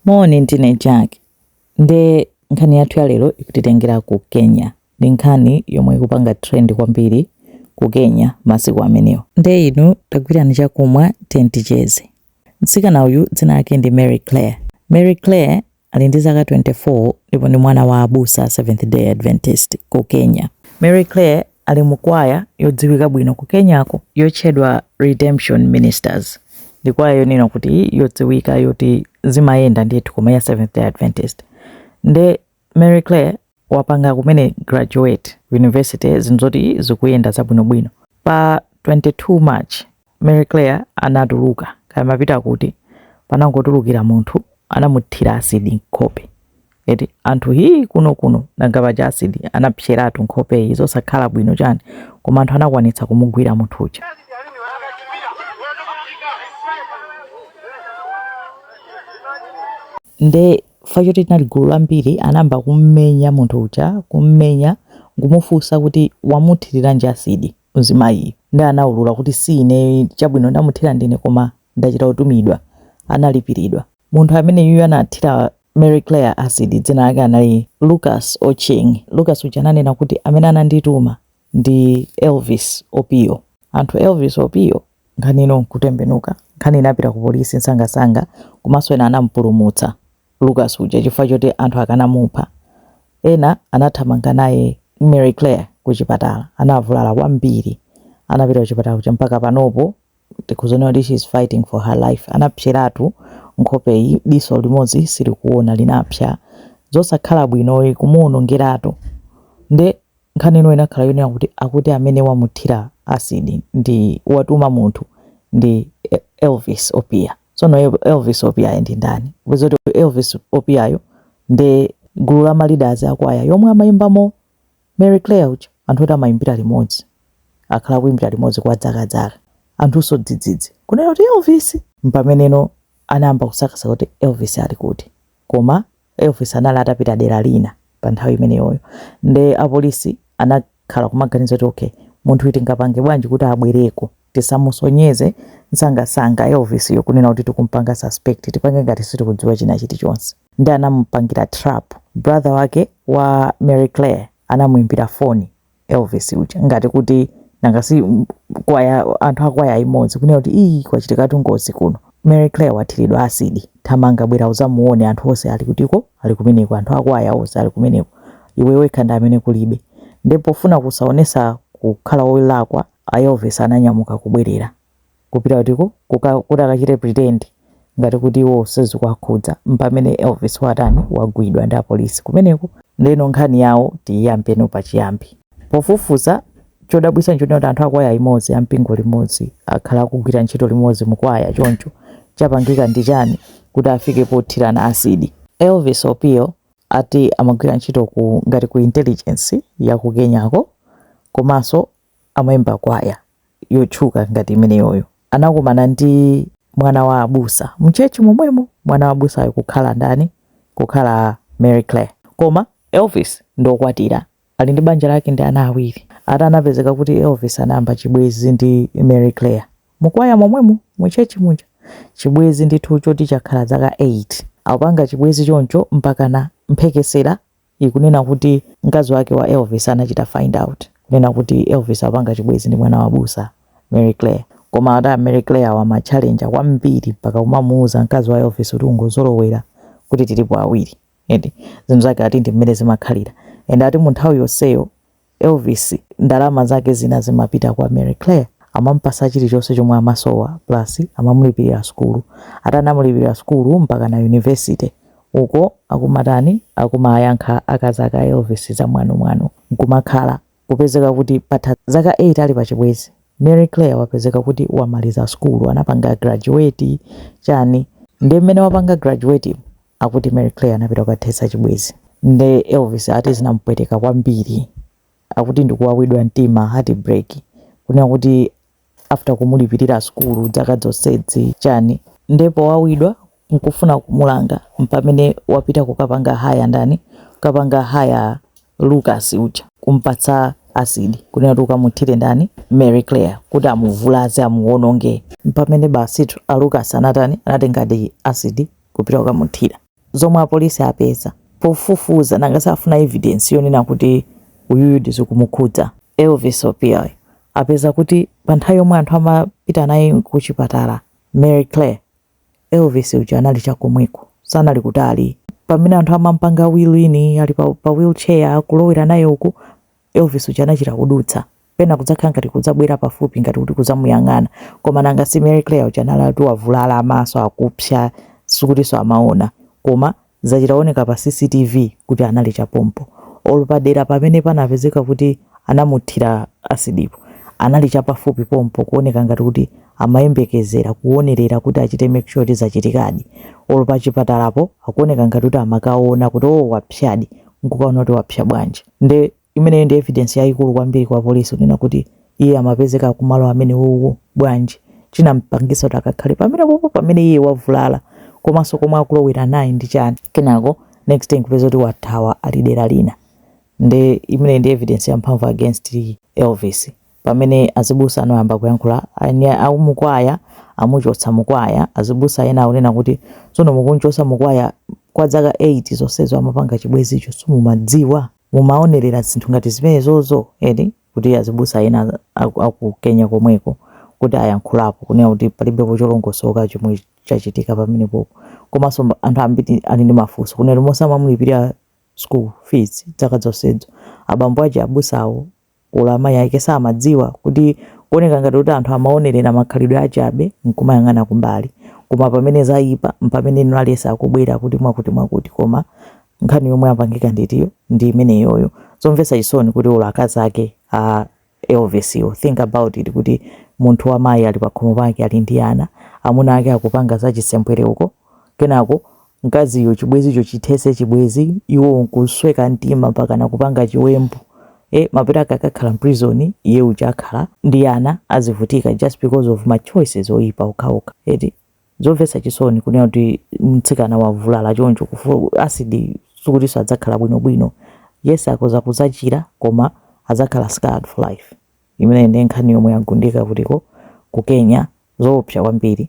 Moni, ndine Jack. Nde nkhani yathu ya lero ikutitengera ku Kenya. Ndi nkhani yomwe ikupanga trend kwambiri ku Kenya masiku amenewa. Nde inu tagwirani chakumwa tiyeni ticheze. Mtsikana uyu dzina lake ndi Mary Claire. Mary Claire ali ndi zaka 24 ndipo ndi mwana wa abusa Seventh Day Adventist ku Kenya. Mary Claire ali mu kwaya yodziwika bwino ku Kenyako yotchedwa Redemption Ministers. Ndi kwaya yonena kuti yodziwika yoti zimayenda ndithu koma ya Seventh Day Adventist. Nde Mary Claire wapanga kumene graduate ku university zinzoti zikuyenda zabwinobwino. Pa 22 March Mary Claire anatuluka, kaya amapita kuti, panangotulukira munthu anamuthira asidi nkhope. Eti anthu hii kuno kuno nanga paja asidi anapseratu nkhopeyi zosakhala bwino chani koma anthu anakwanitsa kumugwira munthu uja. Nde fa choti linali gulu lambiri anayamba kummenya munthu uja kummenya nkumufunsa kuti wamuthiriranji asidi. Mzimayiyu nde anaulula kuti si ineyo chabwino ndamuthira ndine koma ndachita kutumidwa. Analipiridwa. Munthu ameneyuyu anathira Mary Claire acid dzina lake anali Lucas Ochieng. Lucas uja ananena kuti amene anandituma ndi Elvis Opiyo. Anthu Elvis Opiyo nkhani ino nkutembenuka. Nkhani inapita ku polisi msangamsanga komanso ena anampulumutsa. Lucas uja chifukwa choti anthu akanamupha. Ena anathamanga naye Mary Claire kuchipatala. Anavulala kwambiri. Anapita kuchipatala kuja mpaka panopo tikuzaona kuti she is fighting for her life. Anapseratu nkhopeyi, diso limodzi silikuona linapsa. Zosakhala bwinoyi kumuwonongeratu. Nde Nkhani ino inakhala yonena kuti akuti amene wamuthira acid ndi watuma munthu ndi Elvis Opiyo. Tsono Elvis Opiyo yo ndi ndani? Peza kuti Elvis Opiyo yo ndi gulu la ma leaders a kwaya yomwe amaimbamo Mary Claire uja. Anthu oti amaimbira limodzi, akhala akuimbira limodzi kwa zakazaka. Anthunso dzidzidzi kunena kuti Elvis! Mpameneno anayamba kusakasaka kuti Elvis ali kuti. Koma Elvis anali atapita dera lina pa nthawi imeneyoyo nde apolisi anakhala kumaganiza kuti ok munthuyu tingapange bwanji kuti abwereko tisamusonyeze msangamsanga Elvis yo kunena kuti tikumpanga suspect tipange ngati sitikudziwa china chilichonse nde anamupangira trap brother wake wa Mary Claire anamuimbira foni Elvis uja ngati kuti nanga si kwaya anthu akwaya imodzi kunena kuti ii kwachitikatu ngozi kuno Mary Claire wathiridwa asidi thamanga bwera uzamuone anthu onse ali kutiko ali kumeneko anthu akwaya onse ali kumeneko iwe wekha ndi amene kulibe nde pofuna kusaonesa kukhala wolakwa a Elvis ananyamuka kubwerera kupita kutiko kuti akachite pretend ngati kuti iwo sizikuwakhudza mpamene Elvis watani wagwidwa ndi apolisi kumeneko ndeno nkhani yawo tiyiyambe no pachiyambi pofufuza chodabwisa nchoti anthu akwaya imodzi ampingo limodzi akhala akugwira ntchito limodzi mukwaya choncho chapangika ndi chani kuti afike pothirana acid Elvis Opio ati amagwira ntchito ngati ku intelligence ya ku Kenyako komanso amaimba kwaya yotchuka ngati imeneyoyo anakumana ndi mwana wa abusa mchechi momwemo mwana wa abusayo kukhala ndani kukhala Mary Claire koma Elvis ndokwatira ali ndi banja lake ndi ana awiri ati anapezeka kuti Elvis anayamba chibwezi ndi Mary Claire mukwaya momwemo mchechi muja chibwezi ndithu choti chakhala zaka 8 akupanga chibwezi choncho mpaka na mphekesera ikunena kuti mkazi wake wa Elvis anachita find out kunena kuti Elvis akupanga chibwezi ndi mwana wa abusa Mary Claire koma ati a Mary Claire wa ma challenge kwambiri mpaka kumamuuza mkazi wa Elvis kuti ungozolowera kuti tilipo awiri eti zinthu zake ati ndi mmene zimakhalira and ati mu nthawi yonseyo Elvis ndalama zake zina zimapita kwa Mary Claire amampatsa chilichonse chomwe amasowa plus amamulipirira sukulu ati anamulipirira sukulu mpaka na university uko akumatani akumayankha akazi ake a Elvis zamwano mwano nkumakhala kupezeka kuti patha zaka 8 ali pachibwezi Mary Claire wapezeka kuti wamaliza sukulu anapanga graduate chani nde mmene wapanga graduatemu Akuti Mary Claire anapita kukathetsa chibwezi nde Elvis ati zinampweteka kwambiri akuti ndikuwawidwa mtima heartbreak kunena kuti after kumulipirira sukulu zaka zonsezi chani nde powawidwa nkufuna kumulanga mpamene wapita kukapanga haya ndani kukapanga haya Lucas uja kumpatsa acid kunena kuti ukamuthire ndani Mary Claire kuti amuvulaze amuwononge. Mpamene basitu a Lucas anatani anatengadi acid kupita kukamuthira. Zomwe apolisi apeza pofufuza nanga si afuna evidence yonena kuti uyuyudi zikumukhudza. Elvis Opio apeza kuti pa nthawi yomwe anthu amapita naye kuchipatala Mary Claire Elvis uja anali chakomweko, sanali kutali. Pamene anthu amampanga wheel in, ali pa wheelchair kulowera naye uku, Elvis uja anachita kudutsa. Pena kudzakhala ngati kudzabwera pafupi ngati kuti kudzamuyang'ana. Koma nanga si Mary Claire uja anali ati wavulala amaso akupsa, sikutinso amaona. Koma zachita kuoneka pa CCTV kuti anali chapompo olo padera pamene panapezeka kuti anamuthira asidipo anali chapafupi pompo kuoneka ngati kuti amayembekezera kuonerera kuti achite make sure kuti zachitikadi olo pachipatalapo akuoneka ngati kuti amakaona kuti oh wapsadi nkukaona kuti wapsa bwanji nde Imeneyo ndi evidence yayikulu kwambiri kwa police kunena kuti iye amapezeka kumalo amenewowo bwanji chinampangisa kuti akakhale pamenepopo pamene iye wavulala komaso komwe akulowera naye ndi chani kenako next day nkupeza kuti wathawa ali dera lina nde imeneyi ndi evidence yamphamvu against Elvis pamene azibusa ano ayamba kuyankhula aumukwaya amuchotsa mukwaya azibusa ena akunena kuti tsono mukunchosa mukwaya kwa dzaka 8 zonsezo amapanga chibwezicho simumadziwa mumaonerera zinthu ngati zimenezozo eti kuti azibusa ena aku, aku Kenya komweko kuti ayankhulapo kunena kuti palibepo cholongosoka chomwe chachitika pamenepopo komanso mba- anthu ambiri ali ndi mafunso kunena kuti momamulipirira school fees dzaka zonsezo abambo aja abusawo olo amayi ake samadziwa kuti kuoneka ngati kuti anthu amaonerera makhalidwe achabe nkumayang'ana kumbali koma pamene zaipa mpamene ino aliyese akubwera kuti mwakuti mwakuti koma nkhani yomwe yapangika nditiyo ndi imeneyoyo zomvetsa chisoni kuti olo akazi ake a Elvis yo think about it kuti munthu wamayi ali pakhomo pake ali ndi ana amuna ake akupanga zachisembwere uko kenako mkaziyo chibwezicho chithese chibwezi iwowo nkusweka mtima mpakana kupanga chiwembu e, mapeto ake akakhala mprison iye uja akhala ndi ana azivutika just because of ma choices oyipa okhaokha eti zomvetsa chisoni kunena kuti mtsikana wavulala choncho kuthira asidi sikutinso adzakhala bwinobwino yes akoza kuzachira koma adzakhala scarred for life imene ndi nkhani yomwe yagundika kutiko ku Kenya zoopsa kwambiri